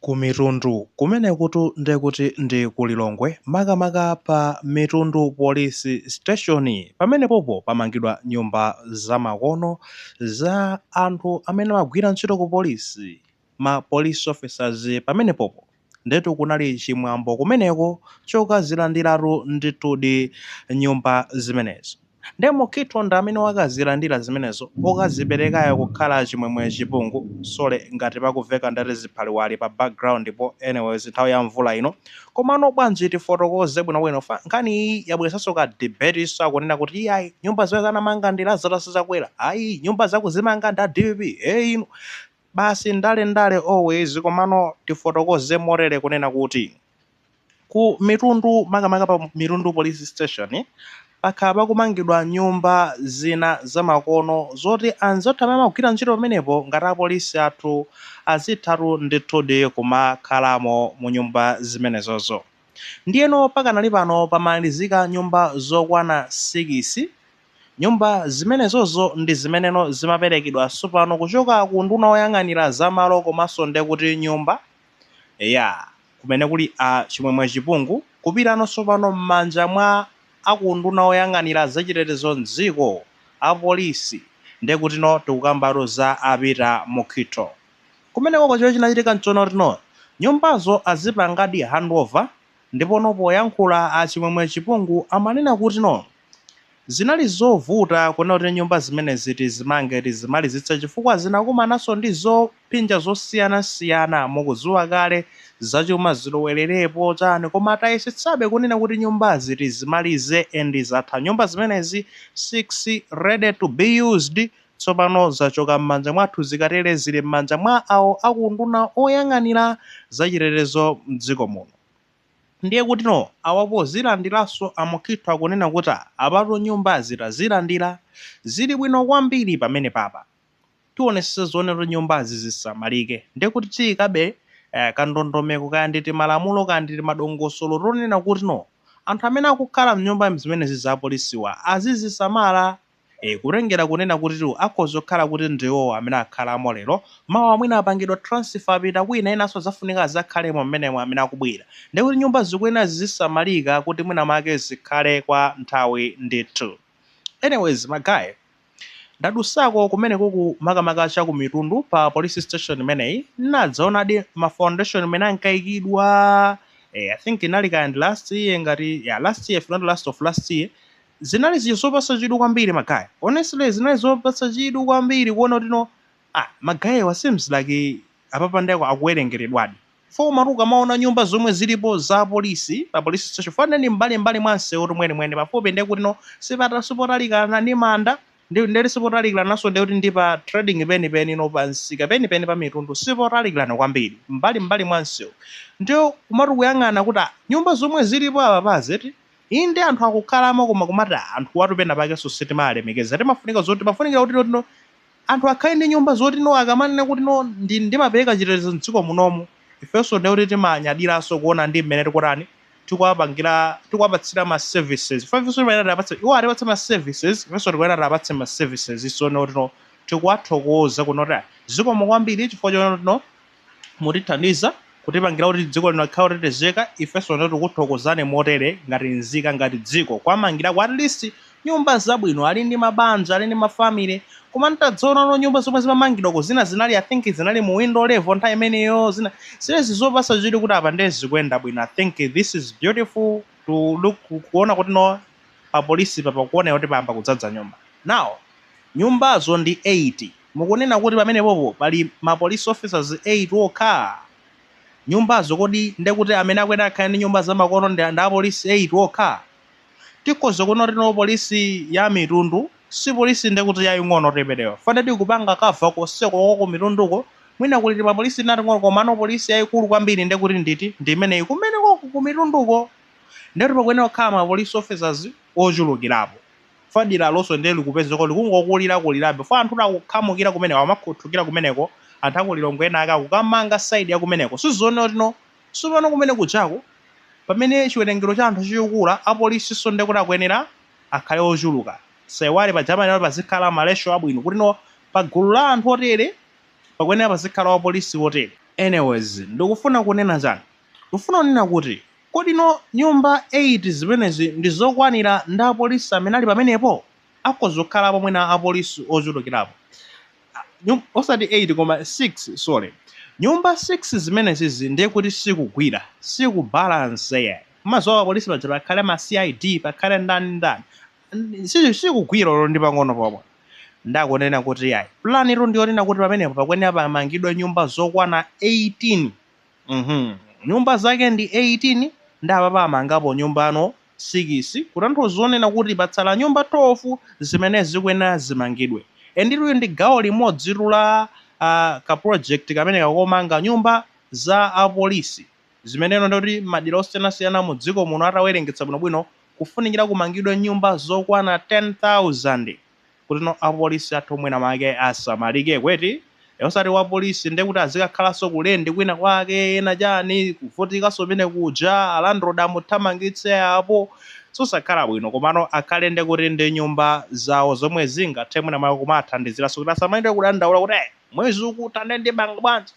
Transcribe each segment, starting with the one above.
ku Mitundu kumenekutu nde kuti ndi ku Lilongwe makamaka pa Mitundu Police Station. Pamenepopo pamangidwa nyumba zamakono za anthu amene amagwira ntchito ku polisi, ma police officers pamenepopo. Ndetu kunali chimwambo kumeneko chokazilandiratu ndithudi nyumba zimenezo. Nde Mukhito ndi amene wakazilandila zimenezo okaziperekayo kukhala chimwemwe chipungu sorry ngati pakuveka ndati ziphaliwali pa background po anyways nthawi ya mvula ino komano bwanji tifotokoze bwinobwino 'cause nkhani iyi yabweresanso ka debate so akunena kuti iyayi nyumba izi anamanga ndi Lazarus Chakwera ayi nyumbazi akuzimanga ndi a dpp ee inu basi ndale ndale always komano tifotokoze motere kunena kuti Ku mitundu makamaka pa Mitundu Police Station pakhala pakumangidwa nyumba zina zamakono zoti anzathu amene amagwira ntchito pamenepo ngati apolisi athu azithatu ndithudi kumakhalamo mu nyumba zimenezozo. Ndiyeno pakanali pano pamalizika nyumba zokwana sikisi. Nyumba zimenezozo ndi zimeneno zimaperekedwa tsopano kuchoka ku unduna woyang'anira za malo komanso ndekuti nyumba. Eya, kumene kuli a Chimwemwe Chipungu kupitano tsopano m'manja mwa a ku unduna woyang'anira za chitetezo m'dziko, a polisi, nde kutino tikukambatu za a Peter Mukhito. Kumeneko ko chomwe chinachitika nchonotino nyumbazo azipangadi handover ndipono poyankhula a Chimwemwe Chipungu amanena kutino, Zinali zovuta kunena kuti nyumba zimenezi tizimange, tizimalizitse chifukwa zinakumananso ndi zophinja zosiyanasiyana. Mukudziwa kale, zachuma zilowererepo, chani, koma tayesetsabe kunena kuti nyumbazi tizimalize and zatha nyumba zimenezi 6 ready to be used. Tsopano zachoka m'manja mwathu, zikatere zili m'manja mwa awo a ku unduna oyang'anira zachitetezo m'dziko muno. Ndiye kutino awa pozilandilaso a Mukhito akunena kuti apatu nyumbazi tazilandila zili bwino kwambiri pamenepapa tionesese zonena kuti nyumbazi zisamalike ndiye kuti tiyikabe kandondomeko kaya ndi timalamulo kaya ndi timadongosolo tonena kutino anthu amene akukhala mnyumba zimenezi za apolisiwa azizisamala E, kutengera kunena kutitu akhoza kukhala kuti ndiwo amene akhalamo lero, mawa mwina apangidwa transfer apita kwina enanso azafunika azakhalemo m'menemo amene akubwera. Ndiye kuti nyumba zikuyenera zizisamalika kuti mwina mwake zikhale kwa nthawi ndithu. Anyways ma guy, ndadusako kumenekuku makamaka cha ku Mitundu pa police station imeneyi, nadzaonadi ma foundation mene ankaikidwa, e, I think inali kaya ndi last year ngati, yeah last year if not last of last year, Zinali zija zopasa chidwi kwambiri ma guy. Honestly zinali zopasa chidwi kwambiri kuona kuti no ah ma guy seems like apapa nde akuwerengeredwadi. Chifukwa komatu ukamaona nyumba zomwe zilipo za apolisi pa police station fa nde ndi m'mbali m'mbali mwa msewutu mweni mweni pafupi nde kuti no sipata sipotalikana ndi manda ndi ndekuti sipotalikilananso nde kuti ndi pa trading peni peni no pa msika peni peni pa mitundu sipotalikilana kwambiri m'mbali m'mbali mwa msewu nde kumati ukuyang'ana kuti ah nyumba zomwe zilipo apapazi eti Inde anthu akukhalamo koma kumati ah anthuwatu penapakenso sitimawalemekeza timafunika zoti pafunikira kuti no anthu akhale ndi nyumba zoti no akamanena kuti no ndi ndimapereka chitetezo m'dziko munomu ifenso ndiye kuti timanyadiranso kuona ndi mmene tikutani tikuwapangira tikuwapatsira ma services chifukwa ifenso timayenera tiwapatse iwo atipatse ma services ifenso tikuyenera tiwapatse ma services so no tino tikuwathokoza kuti no ah zikomo kwambiri chifukwa choti no mutithandiza kutipangira kuti dziko lino likhale lotetezeka ifenso nde tikuthokozani motere ngati nzika ngati dziko kuwamangirako at least nyumba zabwino ali ndi mabanja ali ndi mafamily koma ntadzaona no nyumba zomwe zimamangidwako zina zinali i think zinali mu window level nthawi imeneyo zina zilezi zopasa chidwi kuti apa ndiye zikuyenda bwino i think this is beautiful to look kuona kuti no pa polisi papa kuona kuti payamba kudzadza nyumba now Nyumbazo ndi 8. Mukunena kuti pamenepopo pali ma police officers 8 okha? Nyumbazo kodi ndekuti amene akuyenera akhale ndi nyumba zamakono ndi a police 8 okha? Tikhoza kunena kuti no police ya mitundu si police ndekuti yaing'ono yoperewera. Fa nde ikupanga cover konseko ku kumitunduko mwina kuli tima police tina tating'ono komano police yaikulu kwambiri ndekuti nditi? Ndi imeneyi kumeneko kumitunduko. Nde kuti pakuyenera kukhala ma police officers ochulukirapo. fa deralonso ndiye likupezeka likungokulira kulirabe fa anthu akukhamukira kumeneko amakhuthukira kumeneko anthu aku Lilongwe ena akukamanga side ya kumeneko sizoona kuti no tsopano kumene kujaku pamene chiwerengero cha anthu chikukula apolisinso ndiye kuti akuyenera akhale ochuluka tisaiwale paja amanena kuti pazikhala ma ratio abwino kuti no pa gulu la anthu otere pakuyenera pazikhala wapolisi wotere anyways ndikufuna kunena chani Ndufuna kunena kuti kodi no nyumba 8 zimenezi ndi zokwanira ndi a police amene ali pamenepo? Akhoza kukhalapo mwina a police ochulukirapo. Nyum osati 8 koma 6 sorry. Nyumba 6 zimenezizi ndiye kuti sikugwira. Siku balance yayi. Mumaziwa pa police paja pakhale ma CID pakhale ndani ndani. Si sikugwira olo ndi pang'ono pomwe. Nde akunena kuti yayi. Plan yo ndiyonena kuti pamenepo pakuyenera pamangidwe nyumba zokwana 18. Mhm. Nyumba zake ndi 18 nde apapa amangapo nyumbano 6 kutanthauza zonena kuti patsala nyumba 12 zimene zikuyenera zimangidwe. Enditu ili ndi gawo limodzitu la aah ka project kamene kakomanga nyumba za apolisi zimeneno nde kuti madera osiyanasiyana mu dziko muno atawerengetsa bwinobwino kufunikira kumangidwe nyumba zokwana 10,000. kutino apolisi athu mwina mwake asamalike kweti osati wapolisi nde kuti azikakhalanso ku lendi kwina kwake ena chani kuvutikanso kumene kuja a landlord amuthamangitse apo zosakhala bwino komano akhale nde kuti ndi nyumba zawo zomwe zingathe mwina mwake kumawathandiziranso kuti asamalire kudandaula kuti eh Mwezi ukutha nde ndipanga bwanji?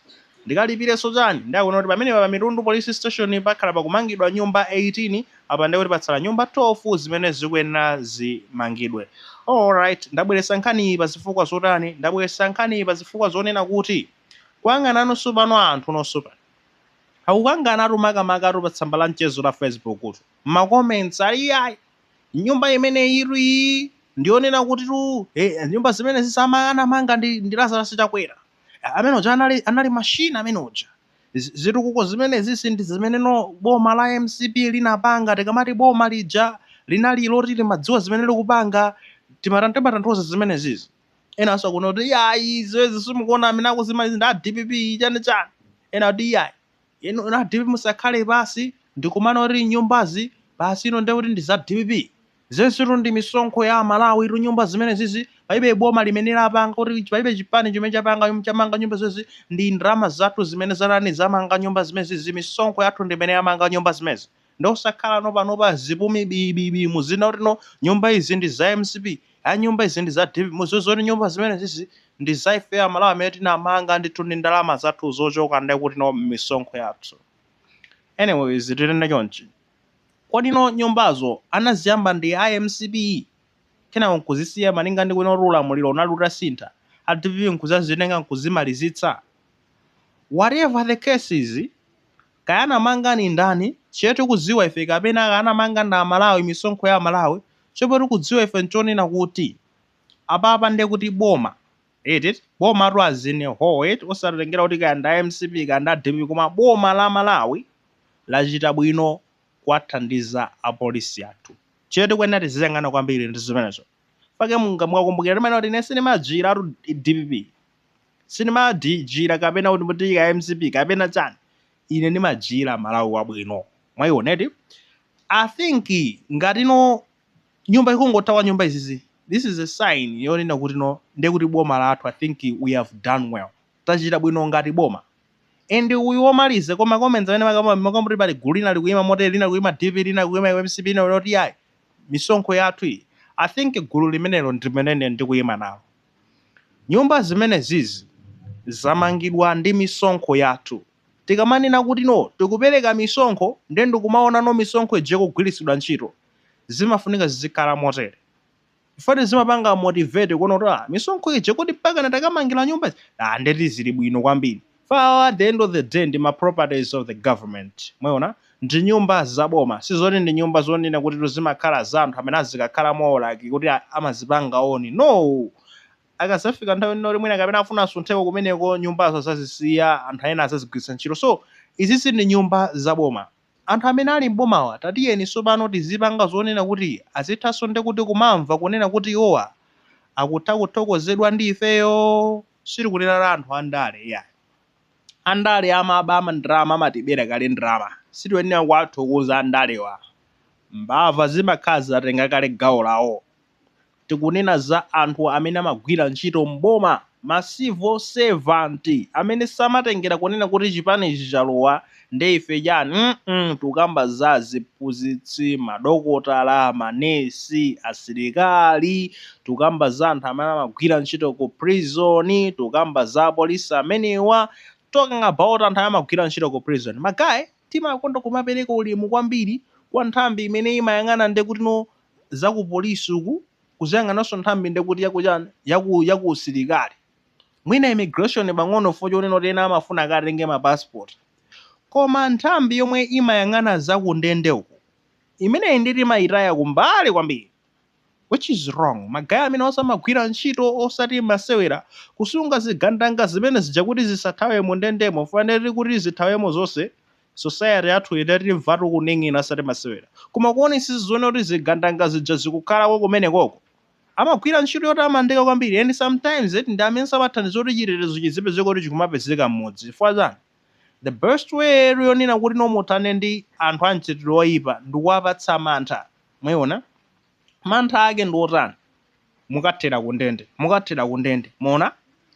Ndikalipirenso chani? Nde akunena kuti pamenepa pa Mitundu Police Station pakhala pakumangidwa nyumba 18, apa ndekuti patsala nyumba 12 zimene zikuyenera zimangidwe. Alright, ndabweretsa nkhaniyi pa zifukwa zotani? Ndabweretsa nkhaniyi pa zifukwa zonena kuti kukangananunso pano anthunonso pano akukanganatu makamakatu pa tsamba la mchezo la Facebook tu, m'ma comments ali yayi! nyumba imene itu iyi ndiyonena kuti tu eh, nyumba zimenezi zija anamanga ndi, ndi Lazarus Chakwera Eh, amene uja anali, anali mashini amene uja Z- zitukuko zimenezizi ndi zimene no boma la mcp linapanga tikamati boma lija linali loti limadziwa zimene likupanga timatan timatanthauza zimenezizi enanso akunena kuti iyayi zimenezi simukuona amene akuzimaliza ndi a dpp chani chani ena kuti iyayi Inu a dpp musakhale pansi ndikumanena kuti nyumbazi basi ino ndiye kuti ndi za dpp. Zonsetu ndi misonkho ya amalawi tu nyumba zimenezizi palibe boma limene lapanga kuti palibe chipani chimene chapanga nyumba chamanga nyumba zimenezi ndi ndalama zathu zimene zatani zamanga nyumba zimenezi misonkho yathu ndi imene yamanga nyumba zimenezi. nde osakhalano panopa zipumi bii bii bii muzinena kuti no nyumba izi ndi za mcp ai nyumba izi ndi za dpp mudziwe zoti nyumba zimenezizi ndi za ifeyo amalawi amene tinamanga ndithu ndi ndalama zathu zochoka ndekuti no mmisonkho yathu anyways tinene chonchi kodi no nyumbazo anaziyamba ndi a mcp kenako nkuzisiya malinga ndi kuno kuti ulamuliro unali utasintha a dpp nkuzazitenga nkuzimalizitsa Whatever the case is, kaya anamanga ni ndani, chimene tikudziwa ife kapena kaya anamanga ndi Amalawi, misonkho ya Amalawi, chomwe tikudziwa ife n'chonena kuti apapa ndiye kuti boma, eti eti, bomatu as in a whole eti, osatengera kuti kaya ndi a mcp kaya ndi a dpp koma boma la Malawi lachita bwino kuwathandiza apolisi athu. Chimene tikuyenera tiziyang'ana kwambiri ndi chimenecho. pake mungakumbukire timanena kuti ine sinimajira atu dpp sinimajira kapena kuti mutiyika mcp kapena chani ine nimajira malawi wabwino mwaioneti i think ngati no nyumba ikungotha kwa nyumba izizi this is a sign yonena kuti no ndiye kuti boma lathu i think we have done well tachita bwino ngati boma and uyu womaliza koma comments amene makambo makambo pali gulu lina likuyima motel lina likuyima dp lina likuyima mcp lina kuti ayi misonkho yathu iyi, I think gulu limenelo ndi limene ine ndikuyima nalo. Nyumba zimenezizi zamangidwa ndi misonkho yathu. Tikamanena kuti no, tikupereka misonkho ndiye ndikumaona no misonkho ija ikugwiritsidwa ntchito, zimafunika zizikhala motere. Chifukwa ine zimapanga motivate kuona kuti ah, misonkho ija kodi mpakana takamangira nyumba izi? Ah, ndeti zili bwino kwambiri. Fo at the end of the day ndi ma properties of the government mwaona ndi nyumba za boma sizoti ndi nyumba zonena kutitu zimakhala za anthu amene azikakhalamowo like kuti amazipanga own noo! Akazafika nthawi ina yoti mwina kapena afuna asuntheko kumeneko nyumbazo azazisiya anthu ena azazigwiritsa ntchito so izizi ndi nyumba za boma anthu amene ali m'bomawa tatiyeni sopano tizipanga zonena kuti azithanso ndekuti kumamva kunena kuti iwowa akutha kuthokozedwa ndi ifeyoo! sitikunena za anthu andale iyayi. Andale amaba ndalama amatibera kale ndalama sitikuyenera kuwathokoza andalewa. Mbava zimakhala zatenga kale gawo lawo. Tikunena za anthu amene amagwira ntchito m'boma ma civil servant amene samatengera kunena kuti chipani ichi chalowa nde ife chani mm tukamba za aziphunzitsi, madokotala, ma nurse, asilikali, tukamba za anthu amene amagwira ntchito ku prison, tukamba za apolisi amenewa, talking about anthu amene amagwira ntchito ku prison magaye timakonda kumapereka ulemu kwambiri kwa nthambi imene imayang'ana nde kuti no za ku polisi uku kuziyang'anaso nthambi nde kuti yaku chani yaku yaku usilikali mwina immigration pang'ono chifukwa chonena kuti ena amafuna akatenge ma passport koma nthambi yomwe imayang'ana za kundende uku imeneyi nde timayitaya kumbali kwambiri which is wrong magaye amenewo amagwira ntchito osati masewera kusunga zigandanga zimene zija kuti zisathawe mu ndendemo fo atati kuti zithawemo zonse society yathu itatimvatu kuning'ina osati masewera koma kuonetsetsa zoona kuti zigandanga zija zikukhalako kumenekoko Amagwira ntchito yotamandika kwambiri and sometimes eti ndi amenso amathandiza kuti chitetezo chizipezeka kuti chikumapezeka mmudzi chifukwa chani? The best way yonena kuti no muthane ndi anthu a mchitidwe oyipa ndikuwapatsa mantha mwayiona? Mantha ake ndi otani? Mukathera ku ndende, mukathera ku ndende mwaona?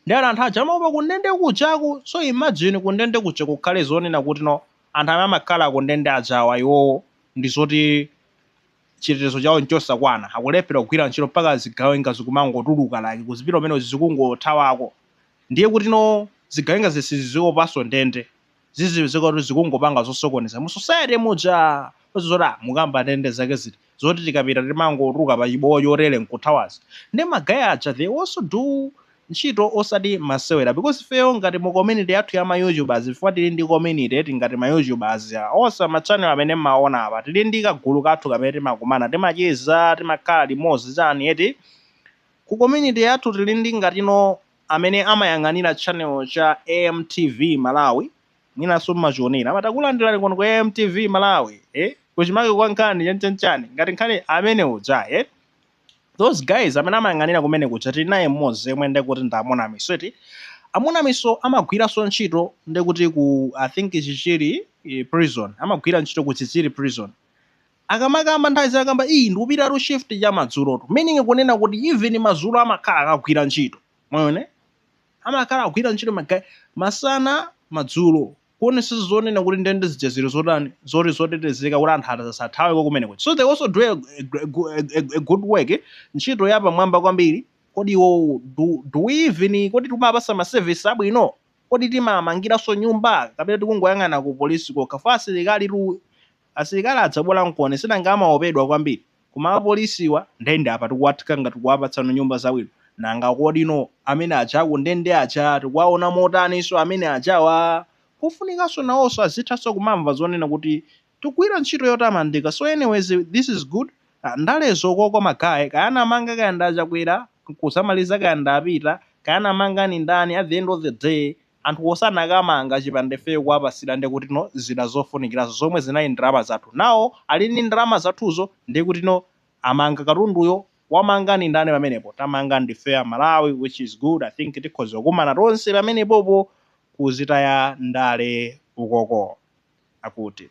Ndiye anthu aja amaopa ku ndende kujaku so imagine ku ndende kuja kukhale zonena kuti no anthu amene amakhala ku ndende ajawa iwowo ndi zoti chitetezo chawo nchosakwana, akulephera kugwira ntchito mpaka zigawenga zikumangotuluka like kuzipita kumene zikungothawako ndiye kutino zigawenga zisiziopanso ndende zizipezeka kuti zikungopanga zosokoneza mu society muja zoti ah mukamba ndende zake ziti zoti tikapita timangotuluka pa chiboo chotere nkuthawazi nde ma guy aja they also do ntchito osati masewera because ifeyo ngati mu community yathu ya ma youtubers chifukwa tili ndi community eti ngati ma youtubers onse ma channel amene mmaona apa tili ndi kagulu kathu kamene timakumana timacheza timakhala limodzi chani eti ku community yathu tili ndi ngatino amene amayang'anira channel cha AMTV Malawi mwinanso mmachionera amati takulandirani kuno ku AMTV Malawi eh kuchimake kwa nkhani chanchanchani ngati nkhani amene uja eh those guys amene amayang'anira kumene kuja tili naye mmodzi yemwe ndekuti ndi amonamiso eti a Munamiso amagwiranso ntchito ndekuti ku i think chichiri eh, prison amagwira ntchito ku chichiri prison akamakamba nthawi zina amakamba ii ndikupitatu shift cha madzulotu meaning kunena kuti even madzulo amakhala akugwira ntchito mwaona amakhala akugwira ntchito ma guy masana madzulo kuonesesa zonena kuti ndende zija zili zotani zoti zotetezeka kuti anthu asathaweko kumeneko so they also do a, a, a, a good work ntchito ya pamwamba kwambiri kodi iwo do, do we even kodi tikumawapasa ma service abwino kodi timawamangiranso nyumba kapena tikungoyang'ana ku polisi kokha chifukwa asilikali tu Asilikali adzabwera nkoni sinanga amaopedwa kwambiri? Koma apolisiwa nde ndi apa tikuwatenga ngati kuwapatsano nyumba zabwino. Nanga kodi no amene aja a ku ndende aja tikuwaona motaninso amene ajawa? Kufunikanso nawonso azithanso kumamva zonena kuti tikugwira ntchito yotamandika so anyways this is good ndalezo koko ma guy kaya anamanga kaya ndi a Chakwera nkuzamaliza kaya ndi a Peter kaya anamanga ndi ndani at the end of the day anthuwo sanakamanga chipanda ifeyo kuwapasira ndekuti no zida zofunikirazo zomwe zinali ndalama zathu nawo ali ndi ndalama zathuzo ndekuti no amanga katunduyo wamanga ndi ndani pamenepo tamanga ndifeyo a Malawi which is good I think tikhoza kukumana tonse pamenepopo kuzitaya ndale ukoko akuti.